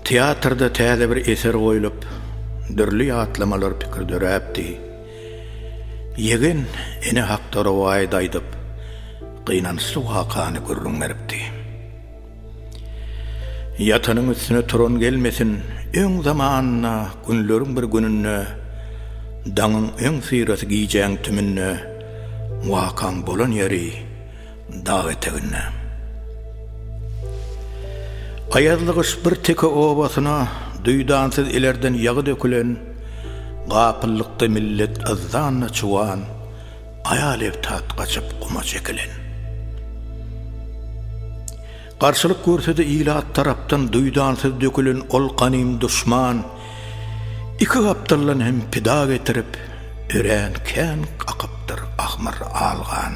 Teatrda täze bir eser goýlup, dürli ýatlamalar pikir döräpdi. Ýegen ene hakda rowaýat aýdyp, gynançly wakany gürrüň beripdi. Ýatanyň üstüne turan gelmesin, öň zamanynda günleriň bir gününde, daňyň öň syrasy gijäň tümünde, wakaň bolan ýeri dag eteginde. Aýazly gyş bir teke obasyna duýdansyz ilerden ýagy dökülen, gapyllykda millet yzdan-da çuwan, Aýal ebtat gaçyp guma çekilen. Garşylyk görse-de ilat tarapdan duýdansyz dökülen ol ganym duşman iki gapdaldan hem pida getirip, örän kän akypdyr ahmyr al gan.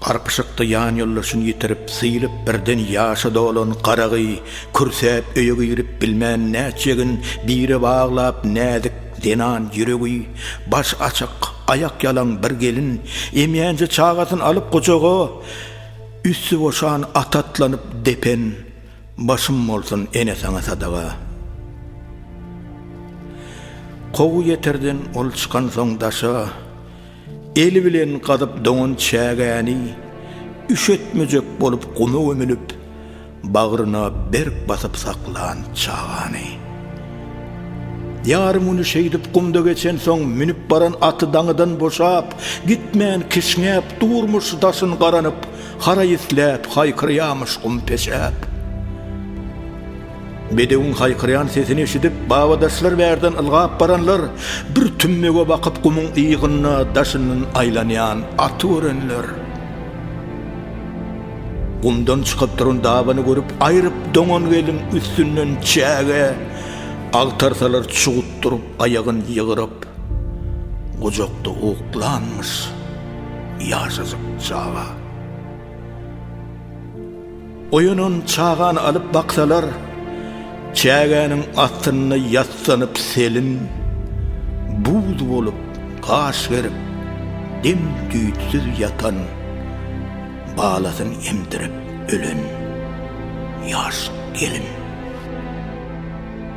Garpyşykda ýanýoldaşyny ýitirip, sylyp, birden ýaşa dolan garagy kürsäp öýe girip bilmän näçe gün bire baglap näzik zenan ýüregi baş açyk, aýak ýalaň bir gelin emýänje çagasyny alyp gujaga üsti boşan ata atlanyp depen Başym bolsun ene saňa sadaga. Kowy ýeterden ol çykansoň daşa, Eli bilen gazyp doňan çägäni, Üşetmejek bolup guma gömülip, Bagryna berk basyp saklan çagany. Ýarym güni şeýdip gumda geçensoň, Münüp baran aty daňydan boşap, Gitmän kişňäp durmuş daşyn garanyp, Haraý isläp, haýkyrýamyş gum peşäp. Bedewiň haýkyrýan sesini eşidip, babadaşlar bärden ylgap baranlar, bir tümmege bakyp gumuň yýgynda daşyndan aýlanýan aty görenler, gumdan çykyp duran dabany görüp, aýryp doňan gelin üstünden çäge agtarsalar çugutdyryp aýagyn ýygryp, gujakda uklanmyş. Ýaşajyk çaga. Oýanan çagany alyp baksalar, çägäniň astynda ýassanyp selin, buz bolup, gaş gerip, dem-düýtsüz ýatan, balasyn emdirip ölen ýaş gelin.